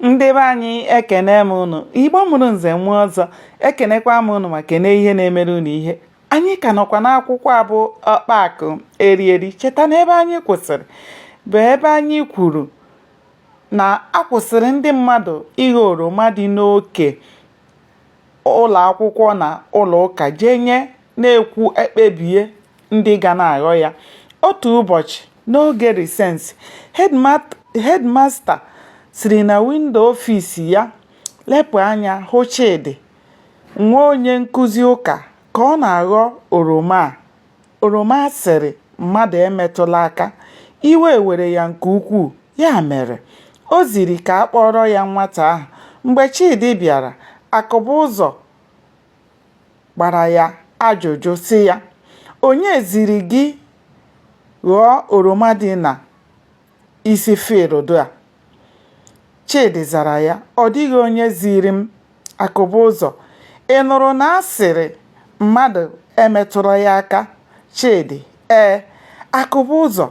ndị be anyị ekene m ụnụ igbo mụrụ nze mụọ ọzọ ekenekwa m ụnụ ma kene ihe na-emere ụnụ ihe anyị ka nọkwa n'akwụkwọ a bụ Ọkpa Akụ Eri Eri cheta na ebe anyị kwụsịrị bụ ebe anyị kwuru na a kwụsịrị ndị mmadụ ịghọ oroma dị n'oke ụlọ akwụkwọ na ụlọ ụka jenye na e kwuo e kpebie ndị ga na-aghọ ya. Otu ụbọchị, n'oge risesị, hedmasta siri na windo ọfis ya lepụ anya hụ Chidi, nwa onye nkụzi ụka, ka ọ na-aghọ oroma a. Oroma a sịrị mmadụ emetụla aka, iwe were ya nke ukwuu, ya mere, o ziri ka a kpọọrọ ya nwata ahụ. Mgbe Chidi bịara, Akụbụzọ gbara ya ajụjụ sị ya, Onye ziri gị ghọọ oroma dị na isi fịịldụ a? Chidi zara ya, ọ dịghị onye ziri m. Akụbụzọ, Ị nụrụ na a sịrị mmadụ emetụla ya aka? Chidi, ee. Akụbụzọ,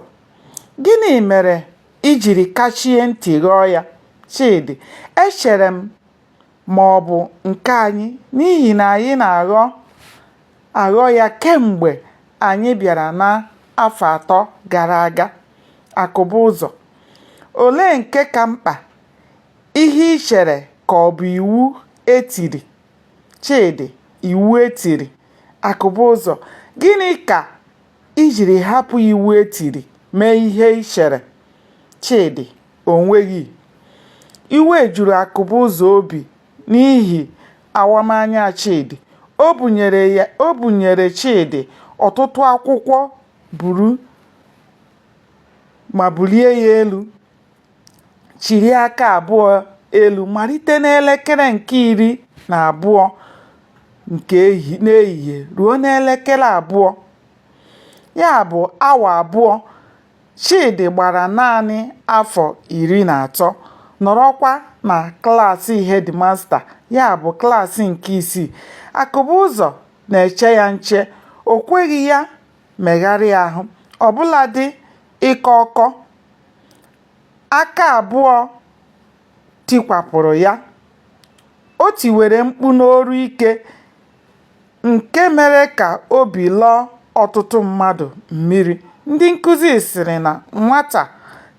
Gịnị mere i jiri kachie ntị ghọọ ya? Chidi, echere m ma ọ bụ nke anyị n'ihi na anyị na-aghọ aghọ ya kemgbe anyị bịara n'afọ atọ gara aga. Akụbụzọ, Olee nke ka mkpa, ihe i chere ka ọ bụ iwu e tiri? Chidi, Iwu e tiri. Akụbụzọ, Gịnị ka i jiri hapụ iwu e tiri mee ihe i chere? Chidi, o nweghị. Iwe juru Akụbụzọ obi n'ihi awamanya Chidi. O bunyere Chidi ọtụtụ akwụkwọ buru ma bulie ya elu, chiri aka abụọ elu malite n'elekere nke iri na abụọ nke n'ehihie ruo n'elekere abụọ, ya bụ awa abụọ. Chidi gbara naanị afọ iri na atọ, nọrọkwa na klaasị hedịmasta, ya bụ, klaasị nke isii. Akụbụzọ na-eche ya nche, o kweghị ya megharịa ahụ, ọ bụladị ịkọ ọkọ. Aka abụọ tikwapụrụ ya, o tiwere mkpu n'olu ike nke mere ka obi lọọ ọtụtụ mmadụ mmiri. Ndị nkụzi sịrị na nwata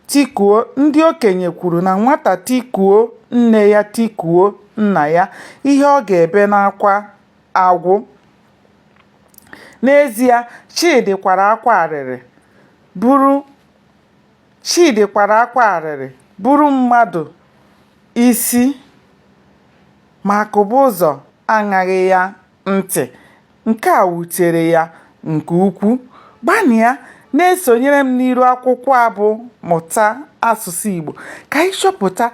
tikuo ndị okenye kwuru na nwata tikuo nne ya tikuo nna ya, ihe ọ ga-ebe n'akwa agwụ. N'ezie, Chidi kwara akwa arịrị, Chidi kwara akwa arịrị buru mmadụ isi. Ma Akụbụzọ aṅaghị ya ntị. Nke a wutere ya nke ukwu. Gbanịa na-esonyere m n'iru akwụkwọ a bụ Mụta Asụsụ Igbo ka anyị chọpụta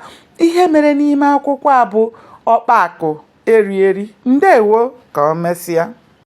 ihe mere n'ime akwụkwọ a bụ Ọkpa Akụ Eri Eri. Ndewo ka o mesịa.